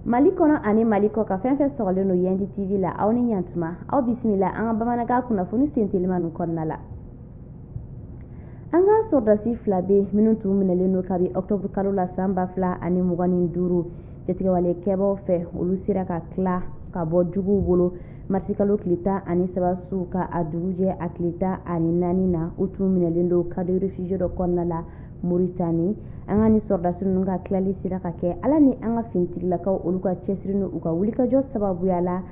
mali kɔnɔ ani mali kɔkan fɛn fɛn sɔgɔlen don yandi tv la aw ni ɲatuma aw bisimila an ka bamanankan kunnafoni sentelimanw kɔnɔna la an ka sɔrɔdasi fila be minnu tun minɛlen don kabi ɔktɔburu kalo la san ba fila ani mugan ni duuru jatigɛwale kɛbaw fɛ olu sera ka tila ka bɔ juguw bolo Marisikalo tile tan ani saba su ka a dugujɛ a tile tan ani naani na u tun minɛlen don camp de réfugiés dɔ kɔnɔna la moritani an ka nin sɔrɔdasi ninnu ka tilali sera ka kɛ ala ni an ka finitigilakaw olu ka cɛsiri ni u ka wulikajɔ sababuya la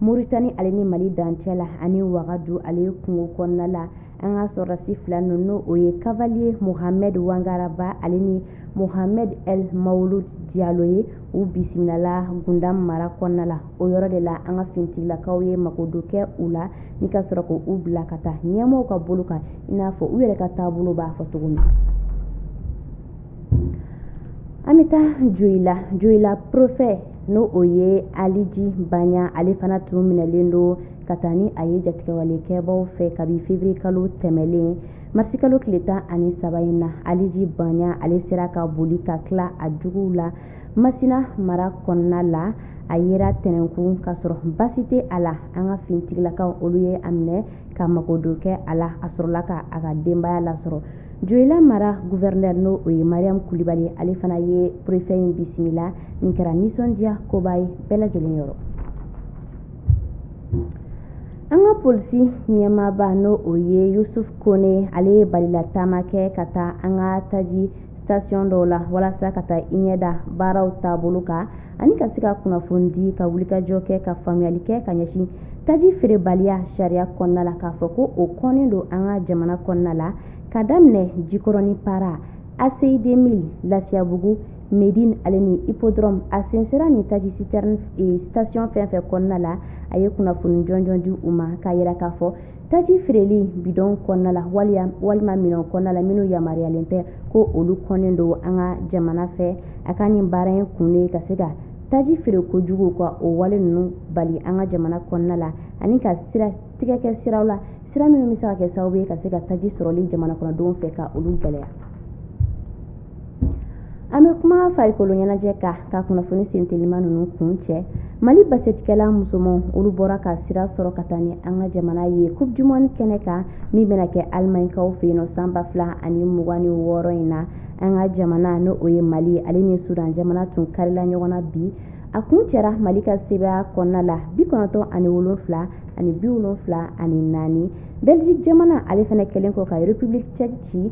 moritani ale ni mali dancɛ la ani wagadu ale kungo kɔnɔna la an ka sɔrɔdasi fila ninnu n'o o ye kavaliye mohamɛd wangaraba ale ni mohamɛd el mawulud diyalo ye u bisimilala gundam mara kɔnɔna la o yɔrɔ de la an ka finitigilakaw ye mago don kɛ u la ni ka sɔrɔ k' u bila ka taa ɲɛmɔgɔw ka bolo kan i n'a fɔ u yɛrɛ ka taabolo b'a fɔ cogo min an bɛ taa joyila joyila perefe n'o o ye aliji banya ale fana tun minɛlen don ka taa ni a ye jatigɛwale kɛbaw fɛ kabi feburuye kalo tɛmɛlen marisi kalo tile tan ani saba in na aliji banya ale sera ka boli ka tila a juguw la masina mara kɔnɔna la a yera tɛnɛnkun ka sɔrɔ baasi tɛ a la an ka finitigilakaw olu ye a minɛ ka mago don kɛ a la a sɔrɔla ka a ka denbaya lasɔrɔ joyila mara guvɛrɛnɛ n'o o ye mariam kulibali ale fana ye perefe in bisimila nin kɛra nisɔndiya koba ye bɛɛ lajɛlen yɔrɔ an ka polisi ɲɛmaaba n'o o ye yusuf kone ale ye balila taama kɛ ka taa an ka taji station dɔw la walasa ka taa i ɲɛda baaraw taabolo kan ani ka se ka kunnafoni di ka wulikajɔ kɛ ka faamuyali kɛ ka ɲɛsin taji feerebaliya sariya kɔnɔna la k'a fɔ ko o kɔnnen don an ka jamana kɔnɔna la ka daminɛ jikɔrɔni para ACI 2000 Lafiyabugu Medine ale ni Hippodrome a sensera nin taji citerne station fɛn fɛn kɔnɔna la a ye kunnafoni jɔnjɔn di u ma k'a yira k'a fɔ taji feereli bidɔn kɔnɔna la walima minɛn kɔnɔna la minnu yamaruyalen tɛ ko olu kɔnnen don an ka jamana fɛ a ka nin baara in kun ye ka se ka taji feereko jugu ka o wale ninnu bali an ka jamana kɔnɔna la ani ka sira tigɛ kɛ siraw la sira minnu bɛ se ka kɛ sababu ye ka se ka taji sɔrɔli jamana kɔnɔdenw fɛ ka olu gɛlɛya an bɛ kuma farikolo ɲɛnajɛ kan ka kunnafoni sentelima ninnu kuncɛ mali basketikɛla musomanw olu bɔra ka sira sɔrɔ ka taa ni an ka jamana ye coupe du monde kɛnɛ kan min bɛna kɛ alimaɲikaw fɛ yen nɔ san ba fila ani mugan ni wɔɔrɔ in na an ka jamana n'o ye mali ale ni sudan jamana tun karila ɲɔgɔn na bi a kuncɛra mali ka sebaaya kɔnɔna la bi kɔnɔntɔn ani wolonfila ani bi wolonfila ani naani belgique jamana ale fana kɛlen kɔ ka république tchèque ci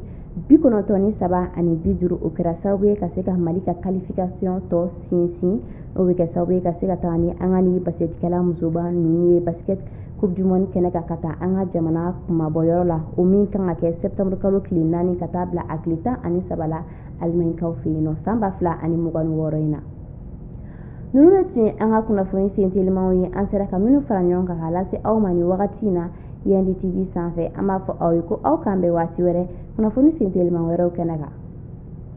bi kɔnɔntɔn ni saba ani bi duuru o kɛra sababu ye ka se ka mali ka qualification tɔ sinsin o bɛ kɛ sababu ye ka se ka taga ni an ka ni basketikɛla musoba ninnu ye basket coupe du monde kɛnɛ kan ka taa an ka jamana kumabɔyɔrɔ la o min kan ka kɛ septembre kalo tile naani ka taa bila a tile tan ani saba la alimaɲikaw fɛ yen nɔ san ba fila ani mugan ni wɔɔrɔ in na ninnu de tun ye an ka kunnafoni sentelimaw ye an sera ka minnu fara ɲɔgɔn kan k'a lase aw ma nin wagati in na yendi tv sanfɛ an b'a fɔ aw ye ko aw k'an bɛn waati wɛrɛ kunnafoni sentelima wɛrɛw kɛnɛ kan